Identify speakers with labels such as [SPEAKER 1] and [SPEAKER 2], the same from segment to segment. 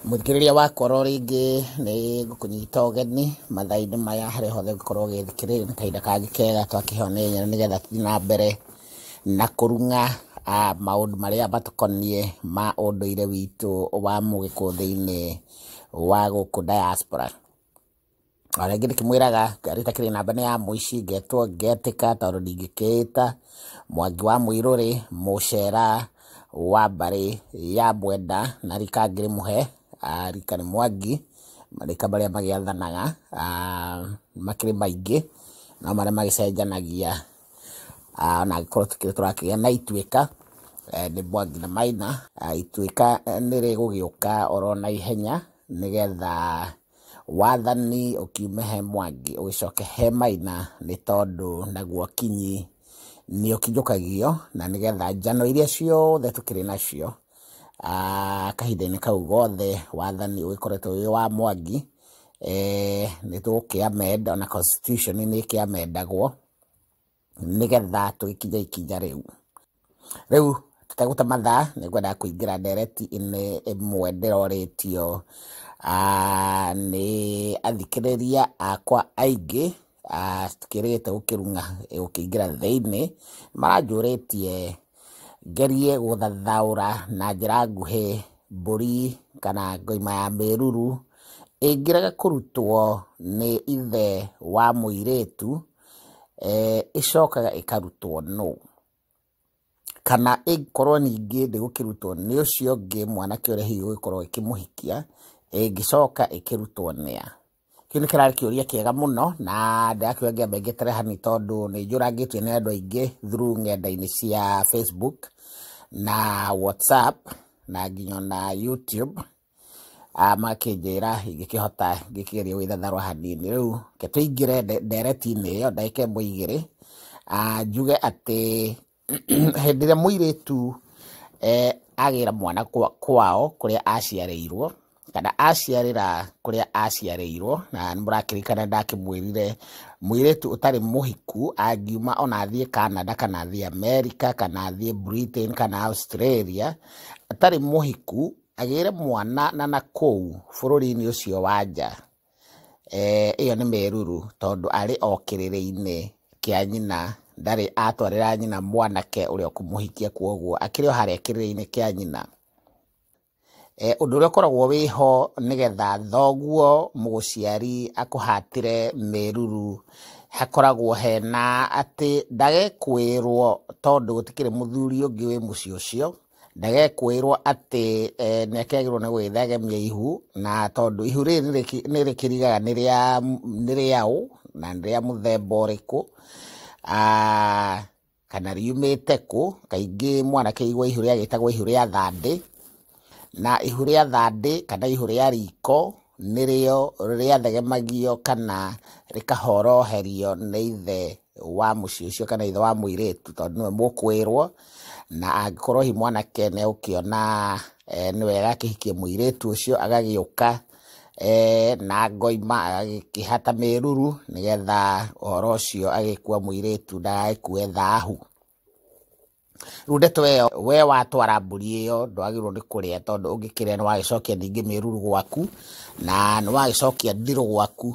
[SPEAKER 1] Mũthikĩrĩria wa Kworo rĩngĩ nĩ ngũkũnyita ũgeni mathaa-inĩ maya harĩa hothe ũngĩkorwo ũgĩthikĩrĩria, nĩ kahinda kangĩ kega twakĩheo nĩ Engineer nĩgetha tũthiĩ na mbere na kũrung'a maũndũ marĩa matũkoniĩ ma ũndũire witũ wa Mũgĩkũyũ thĩinĩ wa gũkũ Diaspora. O rĩngĩ ndĩkĩmwĩraga ngarĩ itakĩrĩ namba nĩ ya mũici, ngetwo ngetĩka tondũ ndingĩkĩĩta Mwangi wa Mũirũrĩ, Mũcera, wa mbarĩ ya Mwenda na rika ngĩrĩmũhe, rika nĩ Mwangi, marika marĩa magĩathanaga makĩrĩ maingĩ, no marĩa magĩcenjanagia ona angĩkorwo tũkĩrĩ tũrakĩgĩa na Ituĩka, nĩ Mwangi na Maina. Ituĩka nĩ rĩgũgĩũka oro naihenya nĩgetha Wathani ũkiume he Mwangi ũgĩcoke he Maina nĩ tondũ naguo Kinyi nĩ ũkinyũkagio na nĩgetha njano iria ciothe tũkĩrĩ nacio ah, kahinda-inĩ kau gothe wathani ũgĩkoretwo wĩ wa Mwangi eh, nĩ tũgũkĩamenda ona constitution nĩ ĩkĩamendagwo nĩgetha tũgĩkinye ikinya rĩu. Rĩu tũtegũte mathaa nĩ ngwenda kũingĩra ndereti inĩ ĩmwe ndĩroretio nĩ athikĩrĩria akwa aingĩ citikĩrĩgĩte gũkĩrung'a gũkĩingĩra thĩinĩ. Maranjũrĩtie ngerie gũthathaũra na njĩra nguhĩ mbũri kana ng'oma ya mĩruru ĩngĩrega kũrutwo nĩ ithe wa mũirĩtu eh, ĩcokaga ĩkarutwo nũ kana ĩngĩkorwo ningĩ ndĩgũkĩrutwo nĩ ũcio ũngĩ mwanake ũrĩa hihi ũgĩkorwo ĩkĩmũhikia ĩngĩcoka ĩkĩrutwo nĩa kĩu nĩ kĩrarĩ kĩũria kĩega mũno na ndĩrakĩũria ngĩamba ngĩtere hani tondũ nĩ njũrangĩtio nĩ andũ aingĩ through ng'enda-inĩ cia facebook na whatsapp na nginya na youtube ah, makĩnjĩra ingĩkĩhota ngĩkĩgeria gwĩthatharwa hanini rĩu ke tũingĩre nde- ndereti-inĩ ĩyo ndagĩka ĩmwe igĩrĩ Ah, njuge atĩ hĩndĩ ĩrĩa mũirĩtu eh, agĩra mwana kwa- kwao kũrĩa aciarĩirwo kana aciarĩra kũrĩa aciarĩirwo na nĩ mũrakĩrikana ndakĩmwĩrire mũirĩtu ũtarĩ mũhiku angiuma ona athiĩ canada kana athiĩ america kana athiĩ britain kana australia atarĩ mũhiku agĩre mwana na na kũu bũrũri-inĩ ũcio wa nja, eh, ĩyo nĩ meruru tondũ arĩ o kĩrĩrĩ-inĩ kĩa nyina ndarĩ atwarĩra nyina mwanake ũrĩa ũkũmũhikia kwoguo akĩrĩ o harĩa kĩrĩrĩ-inĩ kĩa nyina. Eh, ũndũ ũrĩa ũkoragwo wĩho nĩgetha thoguo mũgũciari akũhatĩre meruru hakoragwo hena atĩ ndagekwĩrwo tondũ gũtikĩrĩ mũthuri ũngĩ wĩ mũciĩ ũcio ndagekũĩrwo atĩ eh, nĩ akĩagĩrwo nĩ gwĩthagemia ihu na tondũ ihu rĩrĩ nĩ rĩkĩrigaga nĩ rĩaũ na nĩ rĩa mũthemba ũrĩkũ ah, kana riumĩte kũ kaingĩ mwanake igua ihu rĩagĩtagwo ihu rĩa thandĩ na ihu rĩa thandĩ kana ihu rĩa riko nĩrĩo rĩathegemagio kana rĩkahoroherio nĩ ithe wa mũciĩ ũcio kana ithe wa mũirĩtu tondũ nĩwe mũkwĩrwo na angĩkorwo hi mwanake nĩ ũkĩona eh, nĩ wega akĩhikie mũirĩtu ũcio agagĩũka eh, na ngoima agĩkĩhata mĩruru nĩgetha ũhoro ũcio agĩkua mũirĩtu ndagagĩkue thahu Rĩu ndeto ĩyo we watwara mbũri ĩyo ndwagĩrĩirwo nĩ kũrĩa tondũ ũngĩkĩrĩa nĩ wagĩcokia ningĩ mĩruru gwaku na nĩ wagĩcokia ndirũ gwaku.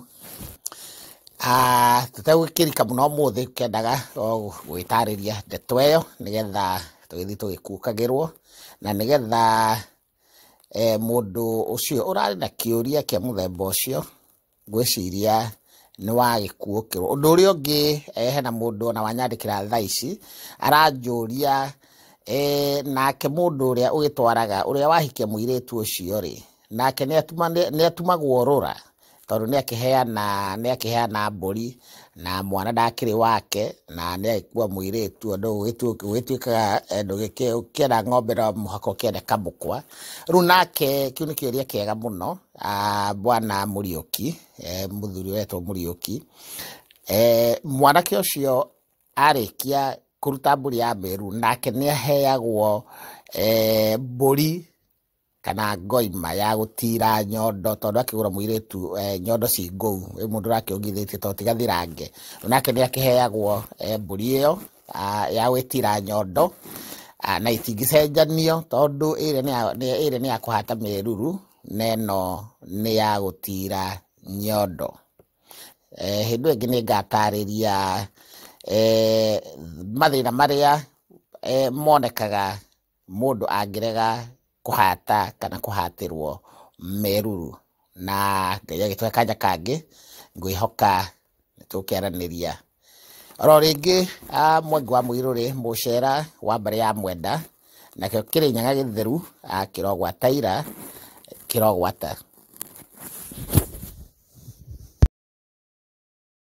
[SPEAKER 1] Ah, Tũtegũkĩrika mũno ũmũthĩ kendaga o gwĩtarĩria ndeto ĩyo nĩgetha tũgĩthiĩ tũgĩkukagĩrwo na nĩgetha eh, mũndũ ũcio ũrarĩ na kĩũria kĩa mũthemba ũcio Ngwĩciria nĩ wa gĩkuũ kĩu. Ũndũ ũrĩa ũngĩ eh, hena mũndũ ona wanyandĩkĩra thaa ici aranjũria eh, nake mũndũ ũrĩa ũgĩtwaraga ũrĩa wahikia mũirĩtu ũcio rĩ nake nĩ atuma- nĩ- nĩ atumagwo rũra tondũ nĩ akĩheana nĩ akĩheana mbũri na mwana ndakĩrĩ wake na nĩ agĩkua mũirĩtu andũ ũgĩtu- ũgĩtuĩkaga eh, ndũgĩkĩ- ũkĩenda ng'ombe no mũhaka ũkĩende kamũkwa rĩu nake kĩu nĩ kĩũria kĩega mũno a bwana Muriuki, eh, mũthuri wetwo Muriuki. Eh, mwanake ũcio arĩkia kũruta mbũri ya mberu nake nĩ aheagwo eh, mbũri kana ngoima ya gũtira nyondo tondũ akĩgũra mũirĩtu eh, nyondo ci ngũu ĩ mũndũ ũrakĩongithĩtie to tiga thirange nake nĩ akĩheagwo eh, mbũri ĩyo ya gwĩtira nyondo na itingĩcenjanio tondũ ĩrĩ nĩ ya kũhata mĩruru na ĩno nĩ ya gũtira nyondo. Hĩndĩ ĩyo ĩngĩ nĩ ngatarĩria mathĩna marĩa monekaga mũndũ angĩrega kũhata kana kũhatĩrwo meruru na Ngai agĩtũhe kanya kangĩ, ngwĩhoka nĩ tũkĩaranĩria. Oro rĩngĩ ah, Mwangi wa Mũirũrĩ, Mũcera wa mbarĩ ya Mwenda, nakĩo Kĩrĩnyaga gĩtheru, ah, kĩrogwata ira, kĩrogwata.